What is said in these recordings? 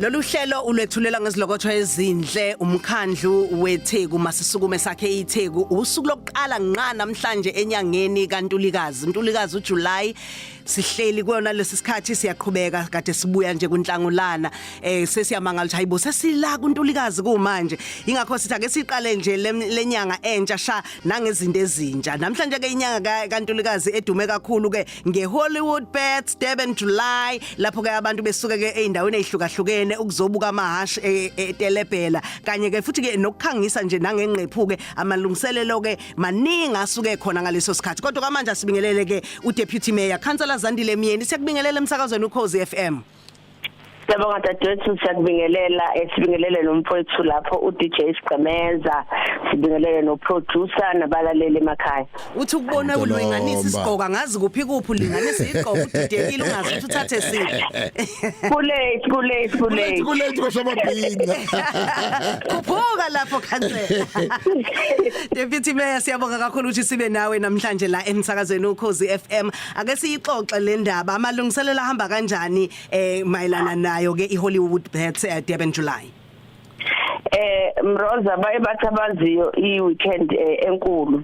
Lolu hlelo ulwethulela ngezilokotho ezinhle umkhandlu weTheku masisukume sakhe iTheku usuku lokuqala nqa namhlanje enyangeni kaNtulikazi uNtulikazi uJuly sihleli kuyona lesi sikhathi siyaqhubeka kade sibuya nje kunhlangulana eh sesiyamangala ukuthi hayibo sesila kuNtulikazi kumanje ingakho sithi ake siqale nje lenyanga entsha sha nangezinto ezintsha namhlanje ke inyanga kaNtulikazi edume kakhulu ke ngeHollywood Pets Durban July lapho ke abantu besuke ke eindaweni ezihlukahlukene ukuzobuka amahashi e- e- etelebhela kanye ke futhi ke nokukhangisa nje nangengqephu ke amalungiselelo ke maningi asuke khona ngaleso sikhathi kodwa kwamanje asibingelele ke uDeputy Mayor Councillor Zandile Myeni siyakubingelela emsakazweni uKhozi FM Siyabonga dadewethu siyakubingelela esibingelele nomfowethu lapho uDJ Sigqemeza sibingelele noproducer nabalaleli emakhaya uthi ukubona ulinganisa isigqoko angazi kuphi kuphi ulinganisa igqoko udidekile ungazi ukuthi uthathe siphi kulate kulate kulate kulate kwasamabhinga khuphuka lapho khansela Deputy Mayor siyabonga kakhulu ukuthi sibe nawe namhlanje la emsakazweni ukhozi FM ake siyixoxe le ndaba amalungiselelo ahamba kanjani eh mayelana nayo ke iHollywood Bets eh, Durban July eh Mroza baye bathabaziyo iweekend eh, enkulu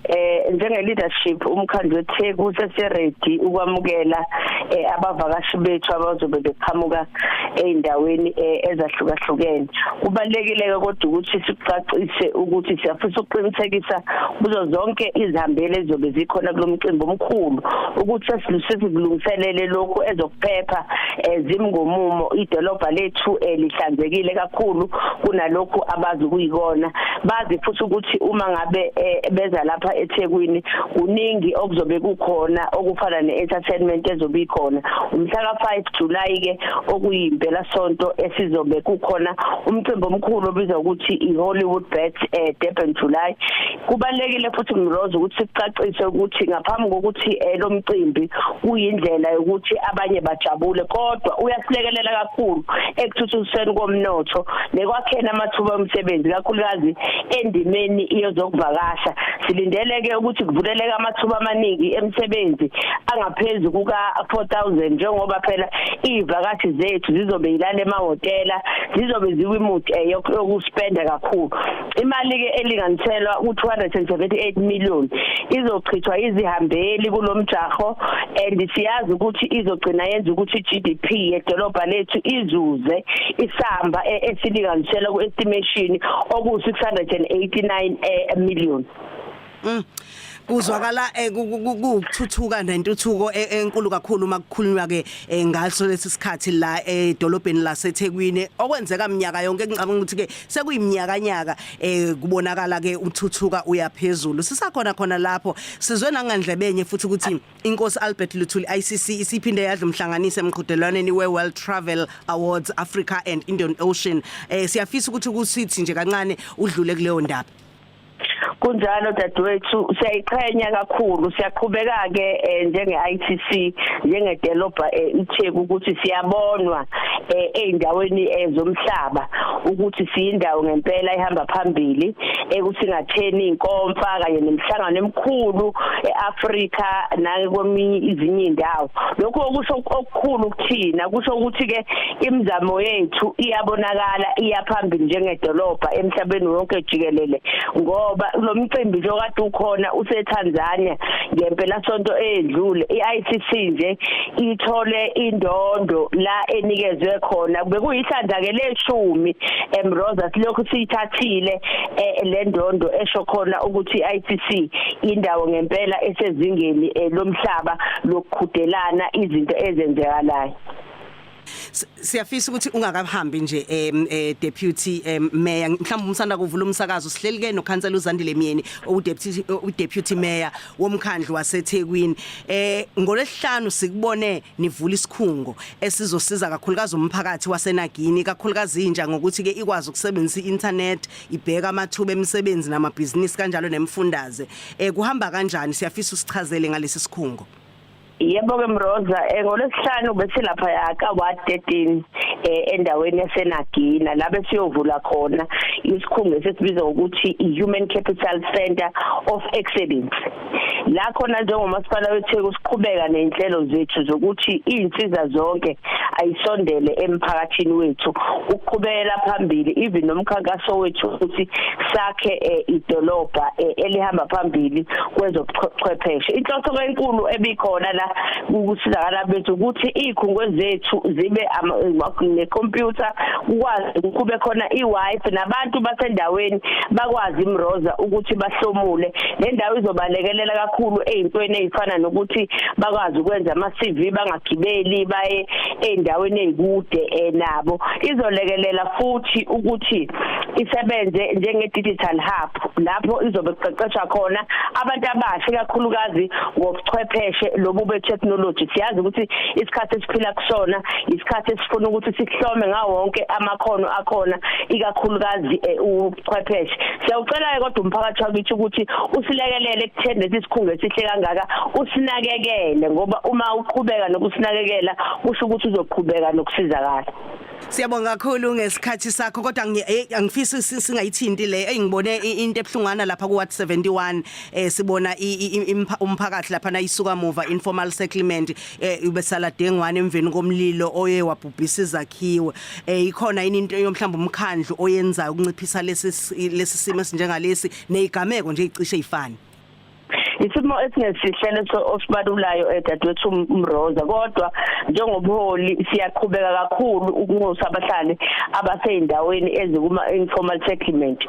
eh njenge leadership umkhandlu weTheku seseredi ukwamukela eh, abavakashi bethu abazobe beqhamuka ezindaweni eh, ezahlukahlukene kubalekile ke kodwa ukuthi sicacise ukuthi siyafisa ukuqinisekisa kuzo zonke izihambele ezobe zikhona kulomcimbi omkhulu ukuthi sesikulungiselele lokhu ezokuphepha eh, zimngomumo idolobha lethu eh, lihlanzekile kakhulu kunalokhu abazi kuyikona bazi futhi ukuthi uma ngabe beza lapha eThekwini kuningi okuzobe kukhona okufana ne-entertainment ezobe ikhona umhlaka 5 July ke okuyimpela sonto esizobe kukhona umcimbi omkhulu obizwa ukuthi iHollywood Bet eh Durban July kubalekile futhi Mrozo ukuthi sicacise ukuthi ngaphambi kokuthi eh, lo mcimbi uyindlela yokuthi abanye bajabule kodwa uyasilekelela kakhulu ekuthuthukiseni komnotho nekwakheni amathuba omsebenzi kakhulukazi endimeni iyozokuvakasha silindeleke ukuthi kuvuleleke amathuba amaningi emsebenzi angaphezu kuka 4000 njengoba phela izivakashi zethu zizobe yilana emahotela zizobe zikwimudi eh, yokuspenda kakhulu imali ke elinganiselwa u 278 million izochithwa izihambeli kulomjaho and siyazi ukuthi izogcina yenza ukuthi GDP yedolobha lethu izuze isamba eh, esilinganiselwa ku estimation okuwu 689 eh, million Mm. kuzwakala eh, ukuthuthuka nentuthuko e-, enkulu kakhulu uma kukhulunywa ke eh, ngaso lesi sikhathi la edolobheni laseThekwini okwenzeka minyaka yonke ngicabanga ukuthi ke sekuyiminyaka nyaka eh, kubonakala ke uthuthuka uyaphezulu sisakhona khona lapho sizwe nangandlebenye futhi ukuthi inkosi Albert Luthuli ICC isiphinde yadla umhlanganise emqhudelwaneni we World Travel Awards Africa and Indian Ocean siyafisa ukuthi kusithi nje kancane udlule kuleyo ndaba kunjalo dadewethu siyayiqhenya kakhulu siyaqhubeka ke eh, njenge ITC njenge developer eh, iTheku ukuthi siyabonwa eh, eindaweni zomhlaba ukuthi siyindawo ngempela ihamba phambili ekusingatheni inkomfa kanye nemihlangano emikhulu eAfrika nakweminye izinye indawo lokho kusho okukhulu kuthina kusho ukuthi ke imizamo yethu iyabonakala iyaphambili njengedolobha emhlabeni wonke jikelele ngoba lo mcimbi nje okade ukhona useTanzania ngempela sonto edlule iICC nje ithole indondo la enikezwe khona bekuyihlandla ke leshumi eMroza silokhu siyithathile eh, le ndondo esho khona ukuthi iICC indawo ngempela esezingeni eh, lomhlaba lokuqhudelana izinto ezenzekalayo siyafisa ukuthi ungakahambi nje em eh, deputy em mayor mhlawumbe umsanda kuvula umsakazo sihleli ke nokhansela uZandile Myeni udeputy udeputy mayor womkhandlu waseThekwini eh ngolesihlanu sikubone nivula isikhungo esizosiza kakhulukazi umphakathi waseNagini kakhulukazi inja ngokuthi ke ikwazi ukusebenzisa i-internet ibheka amathuba emisebenzi namabhizinisi kanjalo nemfundaze eh kuhamba kanjani siyafisa usichazele ngalesi sikhungo Yebo ke Mroza eh, ngolwesihlanu besilapha yaka 113 eh, endaweni yaseNagina la besiyovula khona isikhungo esisibiza ukuthi iHuman Capital Center of Excellence la khona njengomasipala weTheku siqhubeka nenhlelo zethu zokuthi izinsiza zonke ayisondele emphakathini wethu ukuqhubela phambili even nomkhankaso wethu ukuthi sakhe eh, idolobha eh, elihamba phambili kwezobuchwepheshe inhloso enkulu ebikhona la ukusizakala bethu ukuthi izikhungo zethu zibe necomputer ukwazi ukube khona iWiFi nabantu basendaweni bakwazi imroza ukuthi bahlomule le ndawo izobalekelela kakhulu ezintweni ezifana nokuthi bakwazi ukwenza ama CV banga gibeli baye endaweni ezikude eh, nabo izolekelela futhi ukuthi isebenze njenge digital hub lapho izobe kuqeqeshwa khona abantu abasha kakhulukazi ngobuchwepheshe lobu be technology siyazi ukuthi isikhathi esiphila kusona isikhathi esifuna ukuthi sihlome ngawo wonke amakhono akhona ikakhulukazi eh, u chwepheshe siyawucela-ke kodwa umphakathi wakithi ukuthi usilekelele ekutheni lesi sikhungo esihle kangaka usinakekele ngoba uma uqhubeka nokusinakekela kusho ukuthi uzoqhubeka nokusizakala Siyabonga kakhulu ngesikhathi sakho kodwa eh, angifisi singayithinti le engibone into ebhlungana lapha ku Ward 71 eh sibona umphakathi lapha na isuka muva informal settlement eh ubesala dengwane emveni komlilo oye wabhubhisa izakhiwe eh ikhona yini into yomhlamba umkhandlu oyenzayo ukunciphisa lesi lesi simo esinjengalesi nezigameko nje icishe ifani isimo esingesihle leso osibalulayo edadewethu eh, Mroza kodwa njengobuholi siyaqhubeka kakhulu ukunxusa abahlali abaseyindaweni ezikuma informal settlement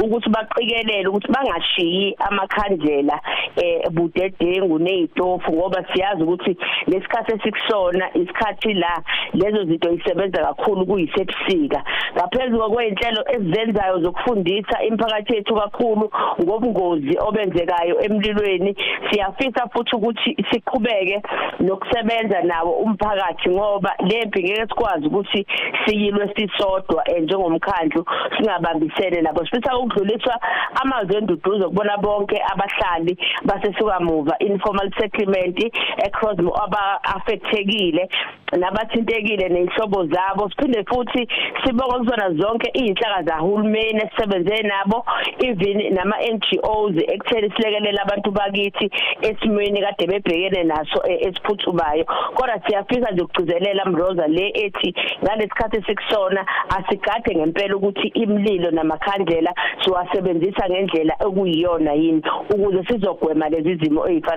ukuthi baqikelele ukuthi bangashiyi amakhandlela eh budedengu nezitofu ngoba siyazi ukuthi lesikhathi esikusona isikhathi la lezo zinto isebenza kakhulu kuyisebusika ngaphezulu kwezinhlelo ezenzayo zokufundisa imphakathi yethu kakhulu ngobungozi obenzekayo emlilweni siyafisa futhi ukuthi siqhubeke nokusebenza nawo umphakathi ngoba lempi ngeke sikwazi ukuthi siyilwe sisodwa eh, njengomkhandlu singabambisene nabo sifisa ukudluliswa amazwi enduduzo kubona bonke abahlali basesukamuva informal settlement eCrosmo aba affectekile nabathintekile nenhlobo zabo siphinde futhi sibonga kuzona zonke izinhlaka zahulumeni esisebenze nabo even nama NGOs ekutheni silekelela abantu bakithi esimweni kade bebhekene naso e, esiphuthubayo kodwa siyafisa nje ukugcizelela mroza le ethi ngalesikhathi sikusona asigade ngempela ukuthi imlilo namakhandlela siwasebenzisa ngendlela okuyiyona yini ukuze sizogwema lezi zimo ezifana